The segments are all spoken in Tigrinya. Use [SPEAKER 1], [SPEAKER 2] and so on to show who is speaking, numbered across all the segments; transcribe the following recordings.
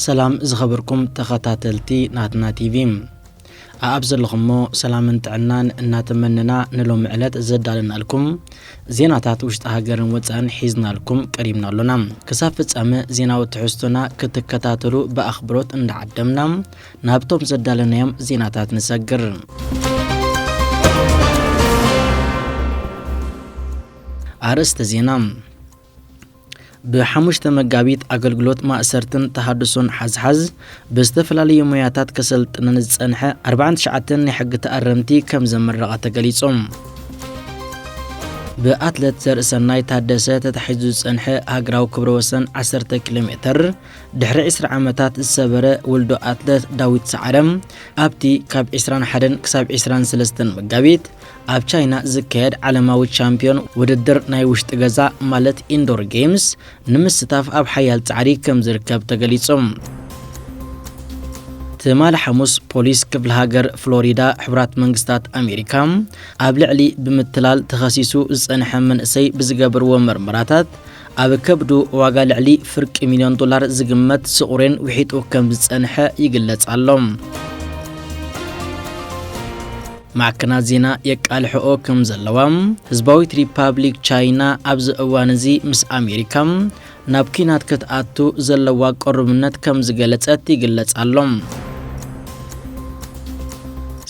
[SPEAKER 1] ሰላም ዝኸበርኩም ተኸታተልቲ ናትና ቲቪ ኣኣብ ዘለኹሞ ሰላምን ጥዕናን እናተመነና ንሎሚ ዕለት ዘዳለናልኩም ዜናታት ውሽጢ ሃገርን ወፃእን ሒዝናልኩም ቀሪብና ኣሎና ክሳብ ፍፃመ ዜናዊ ትሕዝቶና ክትከታተሉ ብኣኽብሮት እንዳዓደምና ናብቶም ዘዳለናዮም ዜናታት ንሰግር። ኣርእስተ ዜና ብሓሙሽተ መጋቢት ኣገልግሎት ማእሰርትን ተሃድሶን ሓዝሓዝ ብዝተፈላለዩ ሞያታት ከሰልጥነን ዝጸንሐ 49 ናይ ሕጊ ተኣረምቲ ከም ዘመረቐ ተገሊጾም ብኣትለት ዘርእሰናይ ታደሰ ተታሒዙ ዝጸንሐ ሃገራዊ ክብረ ወሰን 10 ኪሎ ሜተር ድሕሪ ዕስራ ዓመታት ዝሰበረ ውልዶ ኣትለት ዳዊት ሰዓረ ኣብቲ ካብ 21 ክሳብ 23 መጋቢት ኣብ ቻይና ዝካየድ ዓለማዊ ቻምፒዮን ውድድር ናይ ውሽጢ ገዛ ማለት ኢንዶር ጌምስ ንምስታፍ ኣብ ሓያል ጻዕሪ ከም ዝርከብ ተገሊጹ። ትማል ሓሙስ ፖሊስ ክፍለ ሃገር ፍሎሪዳ ሕቡራት መንግስታት ኣሜሪካ ኣብ ልዕሊ ብምትላል ተኸሲሱ ዝጸንሐ መንእሰይ ብዝገበርዎ መርመራታት ኣብ ከብዱ ዋጋ ልዕሊ ፍርቂ ሚልዮን ዶላር ዝግመት ስቑሬን ውሒጡ ከም ዝጸንሐ ይግለጽ ኣሎ። ማዕከናት ዜና የቃልሕኦ ከም ዘለዋ ህዝባዊት ሪፓብሊክ ቻይና ኣብዚ እዋን እዚ ምስ ኣሜሪካ ናብ ኲናት ክትኣቱ ዘለዋ ቅሩብነት ከም ዝገለጸት ይግለጽ ኣሎ።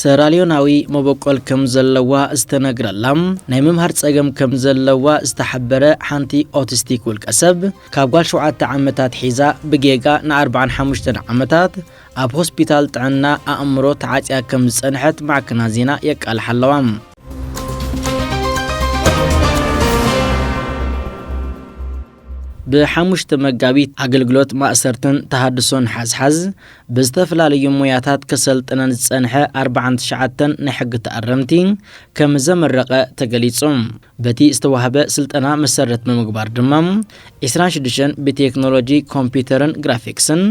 [SPEAKER 1] ሰራልዮናዊ መበቆል ከም ዘለዋ ዝተነግረላ፣ ናይ ምምሃር ጸገም ከም ዘለዋ ዝተሓበረ ሓንቲ ኦቲስቲክ ውልቀሰብ፣ ካብ ጓል ሸውዓተ ዓመት ኣትሒዛ ብጌጋ ንኣርብዓን ሓሙሽተን ዓመታት ኣብ ሆስፒታል ጥዕና ኣእምሮ ተዓጽያ ከም ዝጸንሐት ማዕከናት ዜና የቃልሓ ኣለዋ። ብ ሓሙሽተ መጋቢት ኣገልግሎት ማእሰርትን ተሃድሶን ሓዝሓዝ ብዝተፈላለዩ ሞያታት ከሰልጥነን ዝጸንሐ ኣርብዓን ትሽዓተን ናይ ሕጊ ተኣረምቲ ከም ዘመረቐ ተገሊጹ። በቲ ዝተዋህበ ስልጠና መሰረት ብምግባር ድማ ዕስራን ሽዱሽተን ብቴክኖሎጂ ኮምፒዩተርን ግራፊክስን፣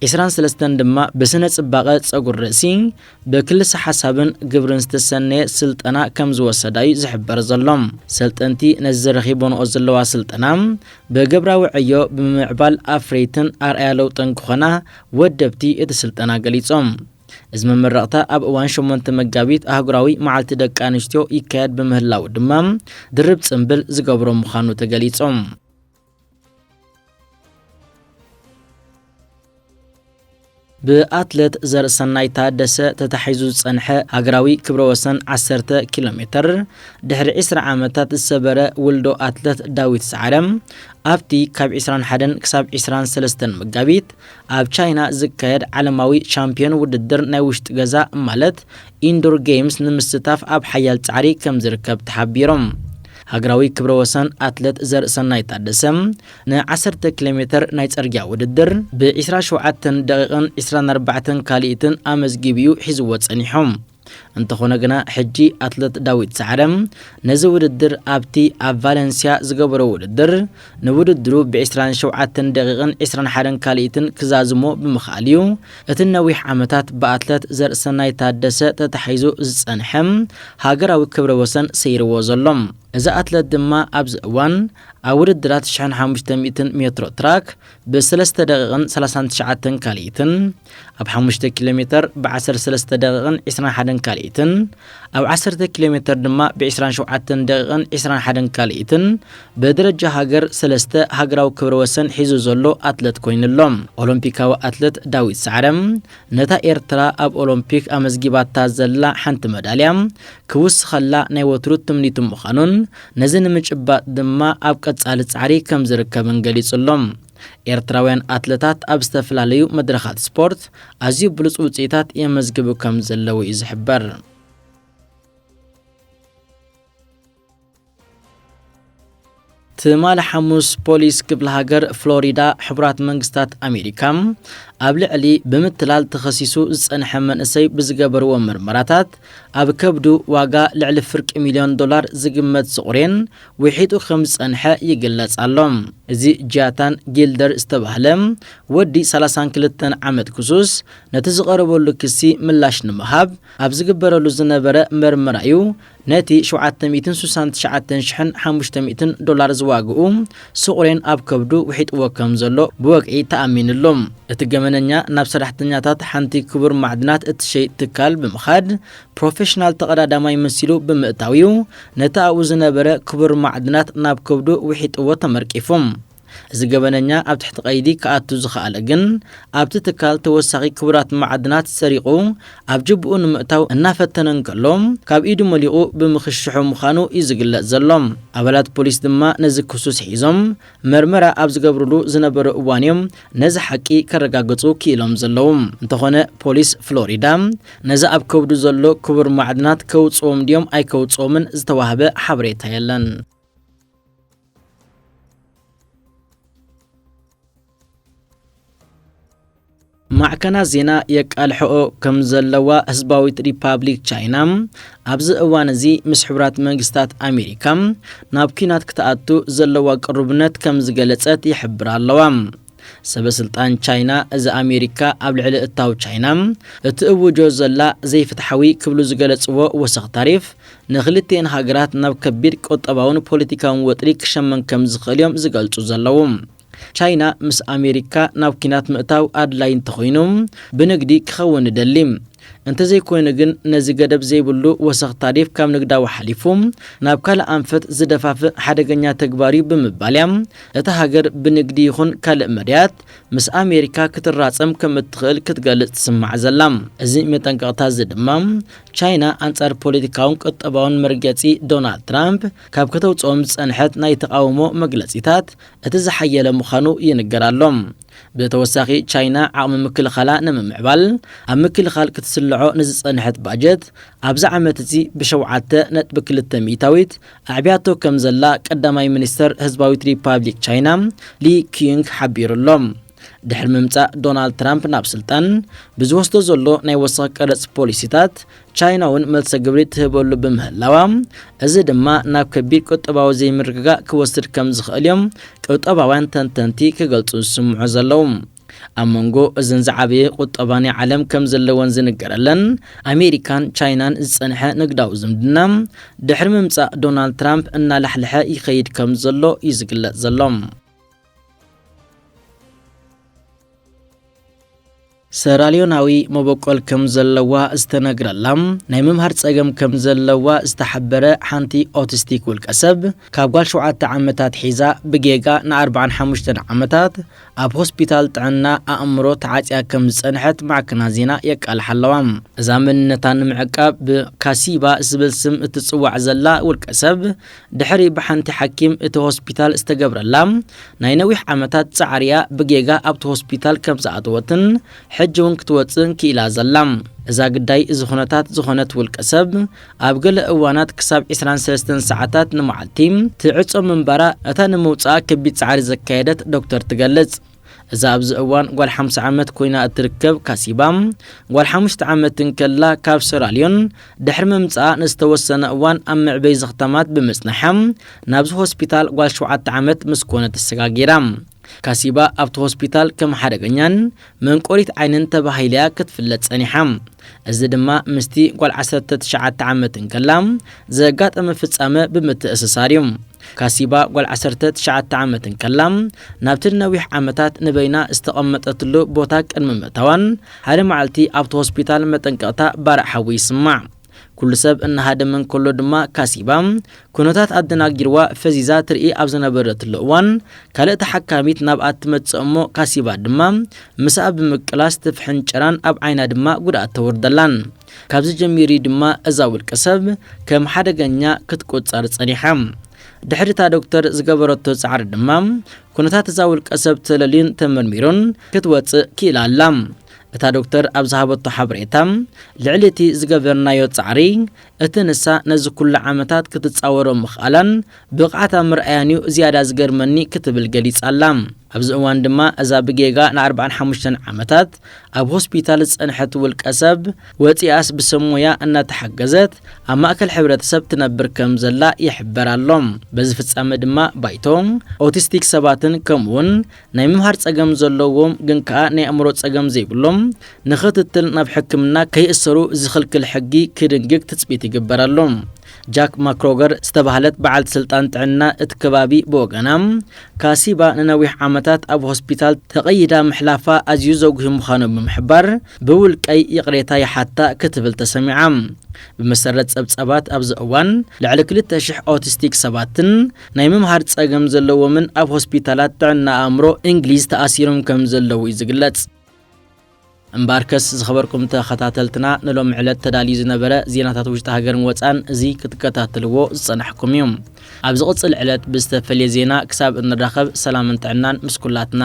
[SPEAKER 1] ዕስራን ሰለስተን ድማ ብስነ ጽባቐ ጸጉሪ ርእሲ፣ ብክልሰ ሓሳብን ግብርን ዝተሰነየ ስልጠና ከም ዝወሰዳ እዩ ዝሕበር ዘሎ። ሰልጠንቲ ነዚ ረኺቦንኦ ዘለዋ ስልጠና ብግብራዊ ዕዮ ብምምዕባል ኣፍረይትን ኣርኣያ ለውጥን ክኾና ወደብቲ እቲ ስልጠና ገሊፆም። እዚ መመረቕታ ኣብ እዋን ሸሞንተ መጋቢት ኣህጉራዊ መዓልቲ ደቂ ኣንስትዮ ይካየድ ብምህላዉ ድማ ድርብ ፅምብል ዝገብሮ ምዃኑ ተገሊፆም። ብኣትለት ዘርእሰናይ ታደሰ ተታሒዙ ዝጸንሐ ሃገራዊ ክብረ ወሰን ዓሰርተ ኪሎ ሜተር ድሕሪ ዕስራ ዓመታት ዝሰበረ ውልዶ ኣትለት ዳዊት ሰዓረ ኣብቲ ካብ 21 ክሳብ 23 መጋቢት ኣብ ቻይና ዝካየድ ዓለማዊ ቻምፒዮን ውድድር ናይ ውሽጢ ገዛ ማለት ኢንዶር ጌምስ ንምስታፍ ኣብ ሓያል ጻዕሪ ከም ዝርከብ ተሓቢሮም ሃገራዊ ክብረ ወሰን ኣትለት ዘርእሰናይ ታደሰ ን ዓሰርተ ኪሎ ሜተር ናይ ጽርግያ ውድድር ብ ዕስራን ሸውዓተን ደቒቕን ዕስራን ኣርባዕተን ካልኢትን ኣመዝጊቡ'ዩ ሒዝዎ ጸኒሑ። እንተኾነ ግና ሕጂ ኣትለት ዳዊት ሰዓረ ነዚ ውድድር ኣብቲ ኣብ ቫለንስያ ዝገበሮ ውድድር ንውድድሩ ብ ዕስራን ሸውዓተን ደቒቕን ዕስራን ሓደን ካልኢትን ክዛዝሞ ብምኽኣሉ'ዩ እቲ ንነዊሕ ዓመታት ብኣትለት ዘርእሰናይ ታደሰ ተታሒዙ ዝጸንሐ ሃገራዊ ክብረ ወሰን ሰይርዎ ዘሎ። እዚ ኣትለት ድማ ኣብዚ እዋን ኣብ ውድድራት ሽሕን ሓሙሽተ ሚእትን ሜትሮ ትራክ ብ ሰለስተ ደቒቕን ሰላሳን ትሽዓተን ካልኢትን፣ ኣብ ሓሙሽተ ኪሎሜተር ብ ዓሰርተ ሰለስተ ደቒቕን ዕስራን ሓደን ካልኢትን፣ ኣብ ዓሰርተ ኪሎሜተር ድማ ብ ዕስራን ሸውዓተን ደቒቕን ዕስራን ሓደን ካልኢትን ብደረጃ ሃገር ሰለስተ ሃገራዊ ክብረ ወሰን ሒዙ ዘሎ ኣትለት ኮይኑ ኣሎ። ኦሎምፒካዊ ኣትለት ዳዊት ሰዓረ፣ ነታ ኤርትራ ኣብ ኦሎምፒክ ኣመዝጊባታ ዘላ ሓንቲ መዳልያ ክውስኸላ ናይ ወትሩ ትምኒቱ ምዃኑን ነዚ ንምጭባጥ ድማ ኣብ ቀጻሊ ጻዕሪ ከም ዝርከብን ገሊጹ ኣሎ። ኤርትራውያን ኣትለታት ኣብ ዝተፈላለዩ መድረኻት ስፖርት ኣዝዩ ብሉጽ ውጽኢታት የመዝግቡ ከም ዘለዉ'ዩ ዝሕበር። ትማሊ ሓሙስ ፖሊስ ክፍለ ሃገር ፍሎሪዳ ሕቡራት መንግስታት ኣሜሪካ ኣብ ልዕሊ ብምትላል ተኸሲሱ ዝጸንሐ መንእሰይ ብዝገበርዎ ምርመራታት ኣብ ከብዱ ዋጋ ልዕሊ ፍርቂ ሚልዮን ዶላር ዝግመት ስቑሬን ውሒጡ ከም ዝጸንሐ ይግለጽ ኣሎ። እዚ ጃታን ጊልደር ዝተባህለ ወዲ 32 ዓመት ክሱስ ነቲ ዝቐረበሉ ክሲ ምላሽ ንምሃብ ኣብ ዝግበረሉ ዝነበረ መርመራ እዩ ነቲ ሸውዓተ ሚእትን ስሳን ትሽዓተን ሽሕን ሓሙሽተ ሚእትን ዶላር ዝዋግኡ ስቑሬን ኣብ ከብዱ ውሒጥዎ ከም ዘሎ ብወግዒ ተኣሚንሉ። እቲ ገበነኛ ናብ ሰራሕተኛታት ሓንቲ ክቡር ማዕድናት እትሸይጥ ትካል ብምኻድ ፕሮፌሽናል ተቐዳዳማይ መሲሉ ብምእታው'ዩ ነቲ ኣብኡ ዝነበረ ክቡር ማዕድናት ናብ ከብዱ ውሒጥዎ ተመርቂፉ። እዚ ገበነኛ ኣብ ትሕቲ ቀይዲ ክኣቱ ዝኸኣለ ግን ኣብቲ ትካል ተወሳኺ ክቡራት መዓድናት ሰሪቑ ኣብ ጅብኡ ንምእታው እናፈተነ እንከሎ ካብ ኢዱ መሊቑ ብምኽሽሑ ምዃኑ እዩ ዝግለጽ ዘሎ። ኣባላት ፖሊስ ድማ ነዚ ክሱስ ሒዞም መርመራ ኣብ ዝገብርሉ ዝነበሩ እዋን እዮም ነዚ ሓቂ ከረጋግጹ ክኢሎም ዘለዉ። እንተኾነ ፖሊስ ፍሎሪዳ ነዚ ኣብ ከብዱ ዘሎ ክቡር ማዕድናት ከውጽኦም ድዮም ኣይከውጽኦምን ዝተዋህበ ሓበሬታ የለን። ማዕከናት ዜና የቃልሕኦ ከም ዘለዋ ህዝባዊት ሪፓብሊክ ቻይና ኣብዚ እዋን እዚ ምስ ሕቡራት መንግስታት ኣሜሪካ ናብ ኲናት ክትኣቱ ዘለዋ ቅሩብነት ከም ዝገለጸት ይሕብራ ኣለዋ። ሰበስልጣን ቻይና እዚ ኣሜሪካ ኣብ ልዕሊ እታው ቻይና እትእውጆ ዘላ ዘይፍትሓዊ ክብሉ ዝገለፅዎ ወሰኽ ታሪፍ ንክልቲኤን ሃገራት ናብ ከቢድ ቁጠባውን ፖለቲካውን ወጥሪ ክሸመም ከምዝኽእል እዮም ዝገልፁ ዘለዉ። ቻይና ምስ ኣሜሪካ ናብ ኲናት ምእታው ኣድላይ እንተኾይኑ ብንግዲ ክኸውን ንደሊ። እንተዘይኮይኑ ግን ነዚ ገደብ ዘይብሉ ወሰኽ ታሪፍ ካብ ንግዳዊ ሓሊፉ ናብ ካልእ ኣንፈት ዝደፋፍእ ሓደገኛ ተግባር'ዩ ብምባል'ያ እታ ሃገር ብንግዲ ይኹን ካልእ መዳያት ምስ ኣሜሪካ ክትራጸም ከም እትኽእል ክትገልጽ ትስማዕ ዘላ። እዚ መጠንቀቕታ'ዚ ድማ ቻይና ኣንጻር ፖለቲካውን ቁጠባውን መርገጺ ዶናልድ ትራምፕ ካብ ከተውጽኦም ዝጸንሐት ናይ ተቓውሞ መግለጺታት እቲ ዝሓየለ ምዃኑ ይንገር ኣሎ። ብተወሳኺ ቻይና ዓቕሚ ምክልኻላ ንምምዕባል ኣብ ምክልኻል ክትስልዖ ንዝጸንሐት ባጀት ኣብዚ ዓመት'ዚ ብሸውዓተ ነጥቢ ክልተ ሚእታዊት ኣዕብያቶ ከምዘላ ቀዳማይ ሚኒስተር ህዝባዊት ሪፓብሊክ ቻይና ሊ ኪዩንግ ሓቢሩ'ሎ። ድሕሪ ምምጻእ ዶናልድ ትራምፕ ናብ ስልጣን፣ ብዝወስዶ ዘሎ ናይ ወሰኽ ቀረጽ ፖሊሲታት፣ ቻይና'ውን መልሰ ግብሪ ትህበሉ ብምህላዋ፣ እዚ ድማ ናብ ከቢድ ቁጠባዊ ዘይምርግጋእ ክወስድ ከም ዝኽእል'ዮም ቁጠባውያን ተንተንቲ ክገልጹ ዝስምዑ ዘለዉ። ኣብ መንጎ እዘን ዝዓበየ ቁጠባ ናይ ዓለም ከም ዘለወን ዝንገረለን ኣሜሪካን ቻይናን ዝጸንሐ ንግዳዊ ዝምድና፣ ድሕሪ ምምጻእ ዶናልድ ትራምፕ እናላሕልሐ ይኸይድ ከም ዘሎ'ዩ ዝግለጽ ዘሎ። ሰራልዮናዊ መበቆል ከም ዘለዋ ዝተነግረላ ናይ ምምሃር ጸገም ከም ዘለዋ ዝተሓበረ ሓንቲ ኦቲስቲክ ውልቀ ሰብ ካብ ጓል ሸውዓተ ዓመታት ሒዛ ብጌጋ ንኣርባዓን ሓሙሽተን ዓመታት ኣብ ሆስፒታል ጥዕና ኣእምሮ ተዓጽያ ከም ዝጸንሐት ማዕከና ዜና የቃልሓ ኣለዋ። እዛ መንነታ ንምዕቃብ ብካሲባ ዝብል ስም እትጽዋዕ ዘላ ውልቀ ሰብ ድሕሪ ብሓንቲ ሓኪም እቲ ሆስፒታል ዝተገብረላ ናይ ነዊሕ ዓመታት ጻዕሪ'ያ ብጌጋ ኣብቲ ሆስፒታል ከም ዝኣተወትን ሕጂ'ውን ክትወጽእን ክኢላ ዘላ። እዛ ግዳይ እዚ ኩነታት ዝኾነት ውልቀሰብ፣ ኣብ ገለ እዋናት ክሳብ ዕስራን ሰለስተን ሰዓታት ንመዓልቲ ትዕጾ ምንባራ እታ ንምውጽኣ ከቢድ ጻዕሪ ዘካየደት ዶክተር ትገልጽ። እዛ ኣብዚ እዋን ጓል ሓምሳ ዓመት ኮይና እትርከብ ካሲባ፣ ጓል ሓሙሽተ ዓመት እንከላ ካብ ሰራልዮን ድሕሪ ምምጽኣ ንዝተወሰነ እዋን ኣብ መዕበዪ ዘኽታማት ብምጽናሓ ናብዚ ሆስፒታል ጓል ሸውዓተ ዓመት ምስ ኮነት ተሰጋጊራ። ካሲባ ኣብቲ ሆስፒታል ከም ሓደገኛን መንቆሪት ዓይንን ተባሂላ'ያ ክትፍለጥ ጸኒሓ። እዚ ድማ ምስቲ ጓል ዓሰርተ ትሽዓተ ዓመት እንከላ ዘጋጠመ ፍጻመ ብምትእስሳር'ዩ። ካሲባ ጓል ዓሰርተ ትሽዓተ ዓመት እንከላ ናብቲ ንነዊሕ ዓመታት ንበይና ዝተቐመጠትሉ ቦታ ቅድሚ ምእታዋን ሓደ መዓልቲ ኣብቲ ሆስፒታል መጠንቀቕታ ባርዕ ሓዊ ይስማዕ። ኩሉ ሰብ እናሃደመ እንከሎ ድማ ካሲባ ኩነታት ኣደናጊርዋ ፈዚዛ ትርኢ ኣብ ዝነበረትሉ እዋን ካልእ ተሓካሚት ናብኣ እትመጽእ እሞ ካሲባ ድማ ምስኣ ብምቅላስ ትፍሕንጨራን ኣብ ዓይና ድማ ጉድኣት ተወርደላን። ካብዚ ጀሚሩ እዩ ድማ እዛ ውልቀሰብ ከም ሓደገኛ ክትቁጸር ጸኒሓ። ድሕሪ እታ ዶክተር ዝገበረቶ ጻዕሪ ድማ ኩነታት እዛ ውልቀሰብ ተለልዩን ተመርሚሩን ክትወጽእ ክኢላ ኣላ። እታ ዶክተር ኣብ ዝሃበቶ ሓበሬታ፣ ልዕሊ እቲ ዝገበርናዮ ጻዕሪ፣ እቲ ንሳ ነዚ ኩሉ ዓመታት ክትጻወሮ ምኽኣላን ብቕዓት ኣብ ምርኣያን'ዩ ዝያዳ ዝገርመኒ ክትብል ገሊጻ'ላ። ኣብዚ እዋን ድማ እዛ ብጌጋ ንኣርብዓን ሓሙሽተን ዓመታት ኣብ ሆስፒታል ዝጸንሐት ውልቀሰብ፣ ወጺኣስ ብሰብ ሞያ እናተሓገዘት ኣብ ማእከል ሕብረተሰብ ትነብር ከም ዘላ ይሕበር ኣሎ። በዚ ፍጻመ ድማ ባይቶ ኦቲስቲክ ሰባትን ከምኡ'ውን ናይ ምምሃር ጸገም ዘለዎም ግን ከኣ ናይ ኣእምሮ ጸገም ዘይብሎም ንኽትትል ናብ ሕክምና ከይእሰሩ ዝኽልክል ሕጊ ክድንግግ ትጽቢት ይግበር ኣሎ። ጃክ ማክሮገር ዝተባህለት በዓልቲ ስልጣን ጥዕና እቲ ከባቢ ብወገና፣ ካሲባ ንነዊሕ ዓመታት ኣብ ሆስፒታል ተቐይዳ ምሕላፋ ኣዝዩ ዘጕሂ ምዃኑ ብምሕባር፣ ብውልቀይ ይቕሬታ ይሓታ ክትብል ተሰሚዓ። ብመሰረት ጸብጻባት ኣብዚ እዋን ልዕሊ ክልተ ሽሕ ኦቲስቲክ ሰባትን ናይ ምምሃር ጸገም ዘለዎምን ኣብ ሆስፒታላት ጥዕና ኣእምሮ እንግሊዝ ተኣሲሮም ከም ዘለዉ እዩ ዝግለጽ። እምበኣርከስ ዝኸበርኩም ተኸታተልትና ንሎሚ ዕለት ተዳልዩ ዝነበረ ዜናታት ውሽጢ ሃገርን ወጻን እዚ ክትከታተልዎ ዝጸናሕኩም እዩ። ኣብ ዝቕጽል ዕለት ብዝተፈልየ ዜና ክሳብ እንራኸብ ሰላምን ጥዕናን ምስ ኩላትና።